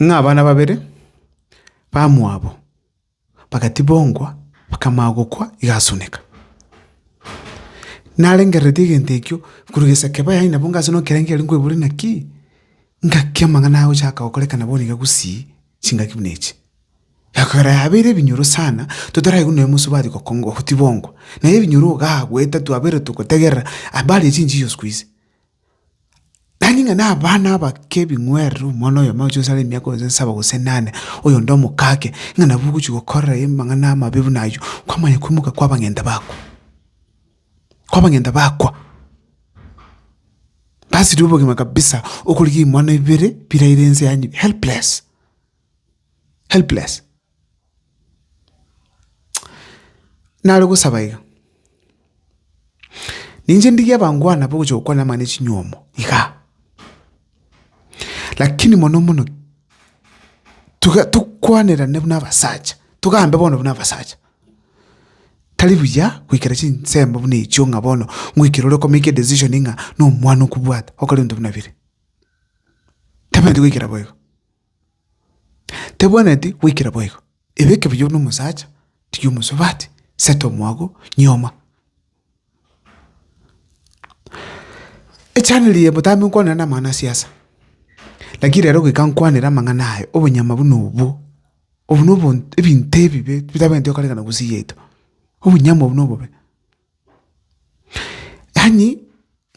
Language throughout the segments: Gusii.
ng'a abana babere bamwabo bagatibongwa bakamanya gokwa igasuneka. Narengereretie egento ekio korwa giseke bono yaani nabo ngase nokerengererio nkoebore naki? Ngaki amang'ana agochaka gokorekana bono iga gusii chingaki buna echi. Ekero yabeire ebinyoro sana totaraigu nonya mosubati gokongwa gotibongwa. Naye ebinyoro igaa goeta twabeire togotegerera habari ya chinchicho sikuizi. Tari ng'a nabana abake ebing'werere, omwana oyomo ocha osare emiaka gose nsaba gose enane, oyonde omoka ake, ng'a nabo ogochia gokorera amang'ana amabe buna ayio, kwamanya koimoka kwa abang'enda bakwa, kwa abang'enda bakwa. Basiria obogima kabisa okorigia imoni ibere biraire ense yanywe helpless, helpless. Nare gosaba iga, ninche ndigie abangwana bogocha gokwana abana chinyomo iga, lakini mono mono tiga tokwanerane buna abasacha, togambe bono buna abasacha, tari buya goikera chinsemo buna echio ng'a bono ngoikere ore komeki edecision ng'a nomwana okobwata okore ebinto buna bire, tamanyeti goikera boigo. Tebwenereti goikera boigo, ebeke buya buna omosacha, tiga omosubati, seta omwago, nyoma. Echaneli eye mbotambe nkwanera namang'ana asiasa, lakini rero goika nkwanere amang'ana aye, obonyama buna obwo, obwo nobonto ebinto ebibe bitabwenereti gokorekana gose yaito, obonyama obwo nobobe. Yaani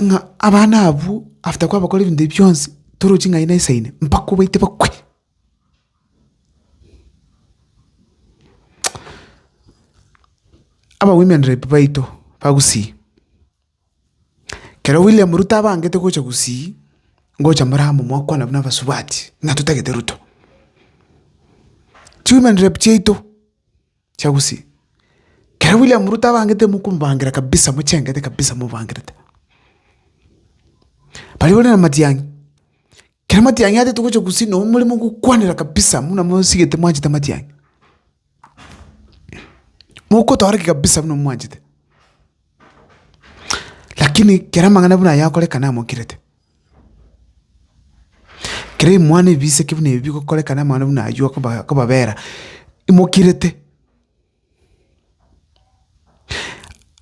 ng'a abana abwo after kwabakora ebinto ebi bionsi toroche ng'a aye nesaine mpaka obaite bakwe. Aba women rep baito ba Gusii, kero William Ruto abangete gocha Gusii ngocha more amo mwakwana buna abasubati ng'a totagete Ruto. Chi women rep chiaito. Chiagusi. Kera William Ruto abangete mokomobangira kabisa mochengete kabisa mobangerete. Baria bare na Matiang'i. Kera Matiang'i atete gocha Gusii nabo more mogokwanera kabisa buna mosigete mwanchete Matiang'i. Mokotooreka kabisa buna mwanchete. Lakini kera amang'ana buna aya agokorekana amokirete, kera ebimwana ebi biseke buna ebi bigokorekana amang'ana buna ayio akoba akobabera imokirete.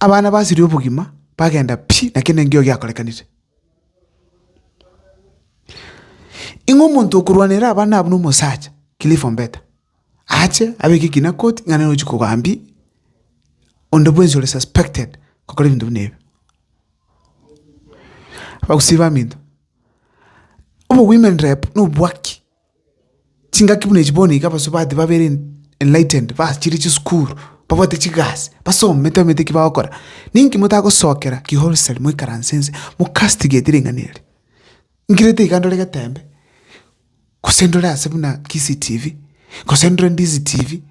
Abana basiria obogima bagenda pi! na kende nkio giakorekanire. Ing'o omonto okorwanera abana abwo na omosacha, Cliff Ombeta? ache abeke ekina koti ng'a nere ochia kogambia onde bwensi ore suspected gokora ebinto buna ebi. Abagusii baminto, obo women rep na obwaki, chingaki buna echi bono iga abasubati babere enlightened bachire chisukuru, babwate chigasi, basomete bamanyete eki bagokora, ninki motagosokera ki wholesale moikaranse nse mo castigate ring'ana eri? Nkirete iga ndore geteembe, gose ndore ase buna Kisii TV, gose ndore Ndiizi TV,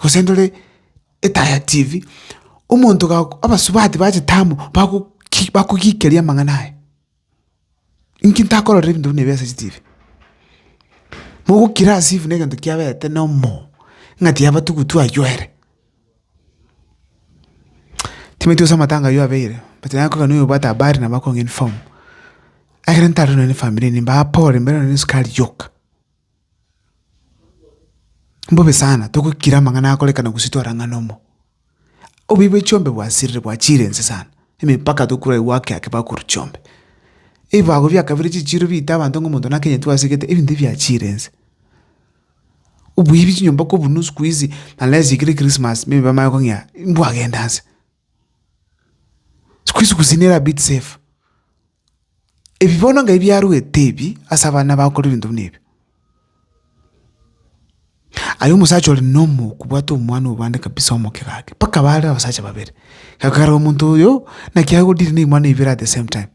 gose ndore Etaya TV, omonto gago abasubati bachete amo bagoki bakogikeria amang'ana aye. Inki ntakororire ebinto buna ebi ase chitibi? Mogokira as if na egento kiabete na omoo, ng'a tiabatugutu aywo ere. Timanyeti gose amatanga ayio abeire but naye akoiga noyo obwate habari nabo akong'a inform. Ekero ntare nonye na efamiri eye nimbaha pole mbere nonye na esukari yoka. Mbobe sana togokira amang'ana akorekana gose twarang'ana omo. Oboibe chiombe bwasirire bwachire ense sana, emepaka tokura aye gwake ake bakorwa chiombe. Ebibago bia kabere chichiro biita abanto ng'a omonto nakenyetwe asegete ebinto ebi biachire ense. Oboibi chinyomba kobunwa siku hizi unless ekero Christmas maybe bamanye kong'ea mbwagenda nse. Siku hizi gusii nere a bit safe. Ebi bono ngai biarwete ebi ase abana bakore ebinto buna ebi. Aye omosacha ore nomoku bwate omwana obande kabisa omoke gake mpaka bare abasacha babere. Ekero omonto oyo naki aye odeal ne imwana ibere at the same time.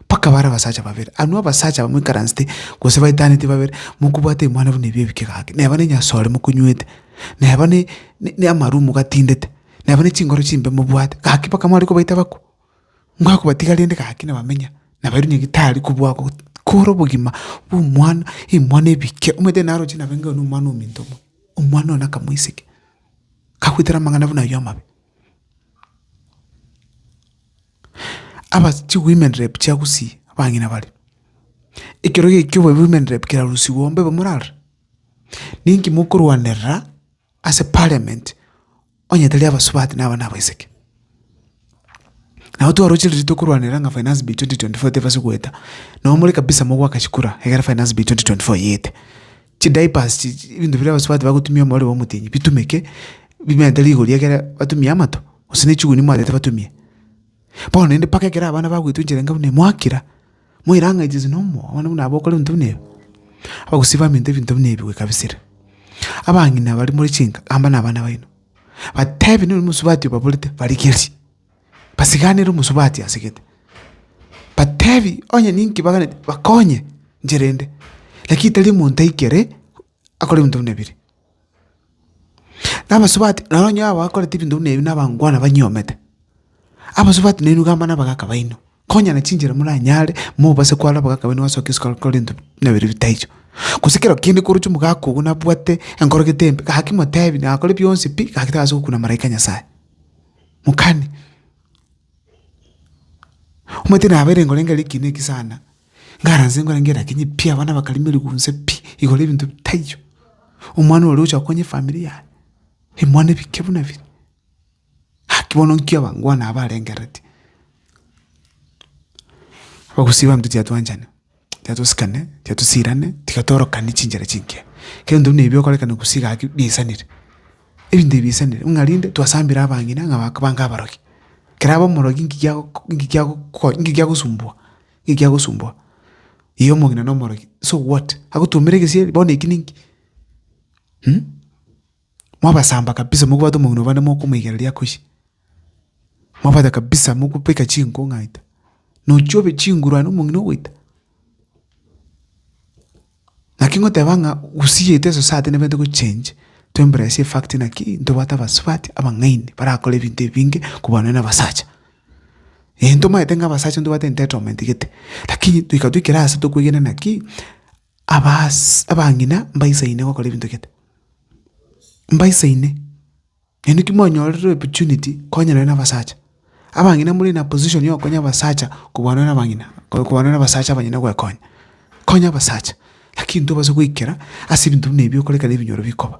Mpaka bare abasacha babere, anwe abasacha bamoikaransete gose baetaneti babere, mokobwate ebimwana buna ebi ebike gaki, neba ne enyasore mokonywete, neba ne neamaru mogatindete, neba ne chinkoro chimbe mobwate, gaki mpaka mware kobaita abakwo? Nigo akobatiga rende gaki na bamenya, nabairwe onye gitari kobua go kore obogima bwa omwana, ebimwana ebike, omanyete naroche nabe iga na omwana ominto omonto, omwana one akamoiseke, kagoetera amang'ana buna ayio amabe. Abas chiwomen rep chiagosie abang'ina bare, ekero gie ekio women rep kerarusigwe ombe bamorare. Ninki mokorwanerera ase parliament onye tari abasubati na abana abaiseke? Nabo twaroche riria tokorwanera ng'a finance bill twenty twenty four tebasa goeta, nabo more kabisa mogoaka chikura egere finance bill twenty twenty four eyete. Chidiapers chi, chi- ebinto biria abasubati bagotumia omorero bwa omotienyi, bitumeke bimerente rigori ekere batumie amato, gose ne chiguni mwanchete batumie. Bono naende mpaka ekero abana bagoitwa enchera enga buna eye, mwakira, mwairang'aiti nse na omoo, abana buna aba bakore ebinto buna ebi. Abagusii baminto ebinto buna ebi goika bisire. Abang'ina baria more chinka, amba nabana baino, batebi nonye omosubati obaborete, barigerie. basiganere omosubati ase gete, batebi onye ninki baganeti bakonye nchera ende, lakini tari omonto aikere akore ebinto buna ebiri. Na abasubati nabo onye abakoreti ebinto buna ebi na abangwana banyioomete, abasubati nainwe iga abana abagaka baino, konya na chinchera moranyare mobase kwara abagaka baino basoke isiko bakore ebinto buna ebiri bitaicho. Gose kero kende koroche omogaka ogo nabwate enkoro gete embe, gaki motebi nakore bionsi pi, gaki tagasa gokuna maraika Nyasae. mokani. Omanyete nabo ere ngorenge ere ekiina eki sana, ngaranse ngorenge ere akinye pi abana bakare merigo inse pi, igoro ya ebinto bitaiyo, omwana oria ogocha konya efamiri yaye, ebimwana ebike buna ebi, naki bono nki abangwana aba arengereti? Abagusii babo titwachanwa. Tiga tosikane, tiga tosiirane, tiga torokanie chinchera chinke. Kento buna ebi okorekana gose gaki biaisanire, ebinto ebi biaisanire ng'a rinde twasambire abang'ina ng'a baka bange abarogi. Kera abe omorogi nki giago nki giago ko nki giagosumbua, nki giagosumbua. Igo omong'ina na omorogi so what? Agotuomera egesieri bono eki ninki? mwabasamba kabisa mokobwate omong'ina obo naende mokomoigereria akosie. Mwabwata kabisa mokobeka chinko ng'aita, nochia obe chinguru aye na omong'ina ogoita. Naki ngoteba ng'a gusii yetu e society nabo ente gochengi, to embrace a fact naki ntobwate abasubati, abang'aini barakore ebinto ebinge kobua nonye na abasacha. Eeh ntomanyete ng'a abasacha ntobwate entitlement gete, lakini toika toikere ase tokoegena naki. Abaase abang'ina mbaisaine gokora ebinto gete, mbaisaine, naende naki mwanyorire opportunity konya nonye na abasacha. Abang'ina more in a position ya okonya abasacha kobua nonye na abang'ina, kobua nonye na abasacha abanyene goekonya. Konya abasacha, lakini tobasa goikera ase ebinto buna ebi okorekana ebinyoro bikoba.